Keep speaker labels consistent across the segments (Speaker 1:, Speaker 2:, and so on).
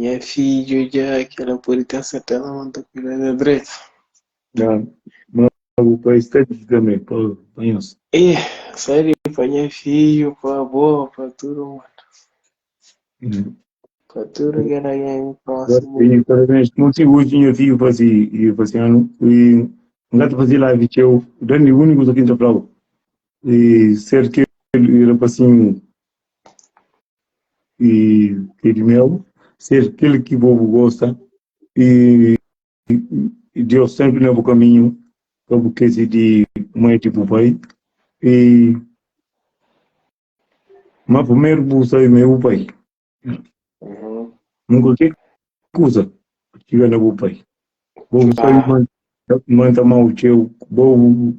Speaker 1: Nha fidju, dja ki el la pode ten serteza ma N ta kuida di el dretu. Dja, ma bu pai sta di tanbê pa nhos. E sta di pa nha fidju, pa bo, pa tudu mundu. Pa tudu kel algen prósimu. Dja, e parabéns. Kima si oji nha fidju fase, fase anu, e N ka ta fase live txeu. Dandi úniku kuza ki N ta fla-u, e ser kel rapasinhu i kedi meu ser kel ki bo bu gosta i i Deus sempre na bu kaminhu pa bu kezi di ma é di bu pai i ma primeru bu sabe ma é bu pai Uhum. nunka ke Kusa ki txiga na bu pai. Bo bu sabe ma N ta ama-u txeu. Bo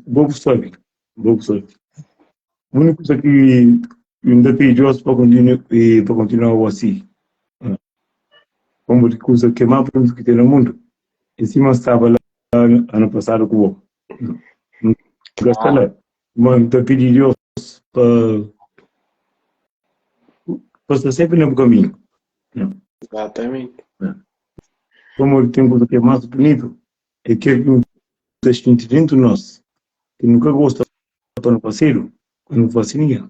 Speaker 1: bu sabe, bo bu sabe. Úniku kusa ki N ta pidi djoz pa kontinua bo si. Pamodi kusa ki é má profundo ki ten na mundu é sima N staba la anu pasadu ku bo. Gastala, ma n ta pidi Deus pa pa sta sempri na bu kaminhu. Exatamente. Pamodi el ten kuza ki é más bunitu, é kel ki nu ta xinti dentu di nos, ki nu ka gosta pa nu fasedu, ka nu fase ninhun.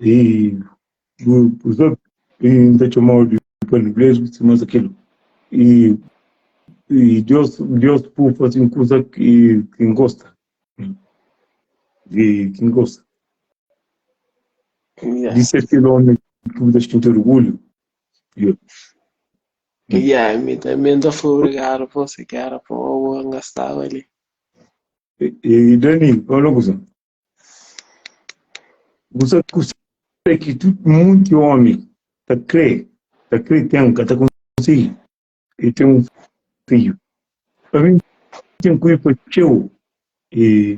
Speaker 1: E os outros e ta txomau di paliblezu si mas akil e e Deus Deus pu fasi un kusa ki ki n gosta e ki n gosta Yeah. dise akil omi ki bu ta xinti orgulhu yo Yeah, mi também dá foi obrigado por se quer por o gastava ali. e e Dani fala kusa Bu sa kusa ki tudu monti omi ta kre, ta kre ten, ka ta konsigi? E ten un fidju. Pa mi, N ten ku i pa txeu. E,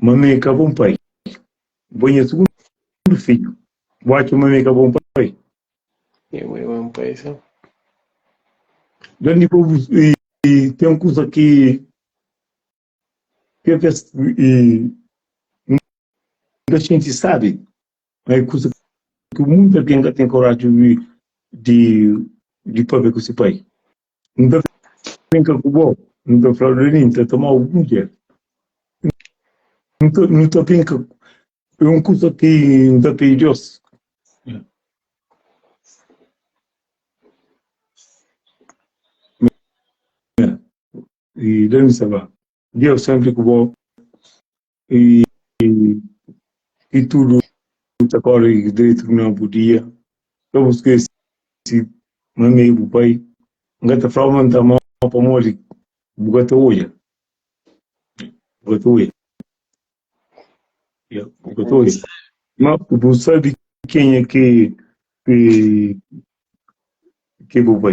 Speaker 1: ma mi ka bon pai. N poi nha sugundu fidju. Bu atxa ma mi ka bon pai? E bu é bon pai, sin. Dónde pa bu ten kusa ki Kê ka e N ka xinti sábi, má é kuza ki munti algen ka ten koraji obi di di pâpia ku se pai. N ta brinka ku bo, N ta fla-u dja-li N ta toma-u bu mudjer. N ta nu ta brinka é un kuza ki N ta pidi Deus. e da mi saba Deus sempre ku bo e e tudo ta corre direito na bu dia ka bu esquece ma mi bu pai nga ta fala ma ta mal pamodi bu ka ta olha bu ka ta olha yeah, bu ka ta olha ma bu sabe quem é que que que bu pai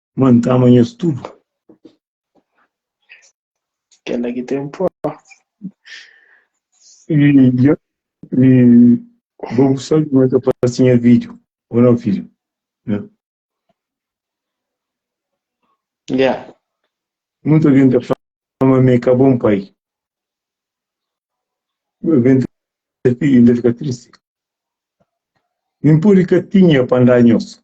Speaker 1: Mano ta ama nhos tudo. Kela ki tem pó. E, ya, e vou gostar de mais a pastinha vídeo, ou não, filho? Né? Ya. Muito alguém da fama me cá bom pai. Alguém da filha ainda fica triste. Nem por catinha para andar nhoso.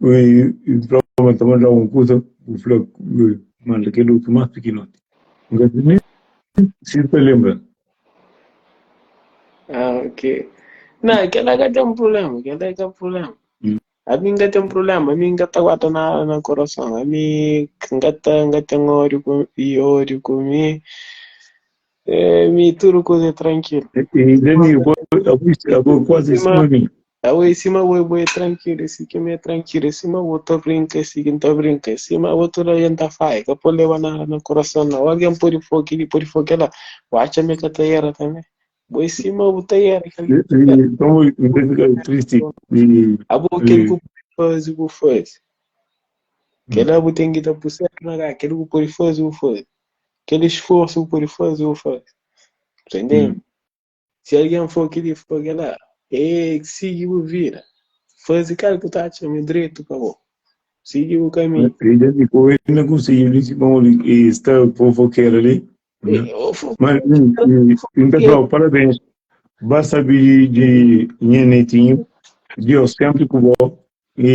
Speaker 1: Prova ta mandá un kuza bu fla manda kel otu más pikinoti. N ka ta nen presiza ta lenbra-l. Ah, ok. Não, kel lá ka tem problema, kel lá ka problema. A mim ka tem problema, a mim ka ta guarda na, na coração. A mim ka ta, ka tem ódio com, e ódio com mim. É, mi tudo coisa é tranquilo. E Dani, eu vou, eu vou, eu vou quase em cima de mim. Au é si ma ue bu é trankilu, é si ki mi é trankilu, é si ma ue ta brinka, é si ki N ta brinka, é si ma ue tudu algen ta faia, ka po leba nada na kurason nau, algen podi fo kili, podi fo kela, bu atxa mi ka ta era tanbe? Bu é si ma bu ta era kel ki bu ta era, Nton bu é si ma bu ta era kel ki bu ta era, abo kel ki bu podi fazi bu fazi, kel la bu ten ki ta pui sénpri na ka, kel ki bu podi fazi bu fazi, kel esforsu ki bu podi fazi bu fazi, ta intende? Si algen for ki di fla kel-la, Ei, sigi bu vida, faze kel ki bu ta atxa ma é dretu pa bo, sigi bu kaminhu. Ei, dja di ku el, na konsigi li si pamo li, i sta fofokeru li. Ma N ta fla-u, Parabens, ba sabi di nha netinhu, Diós sénpri ku bo, i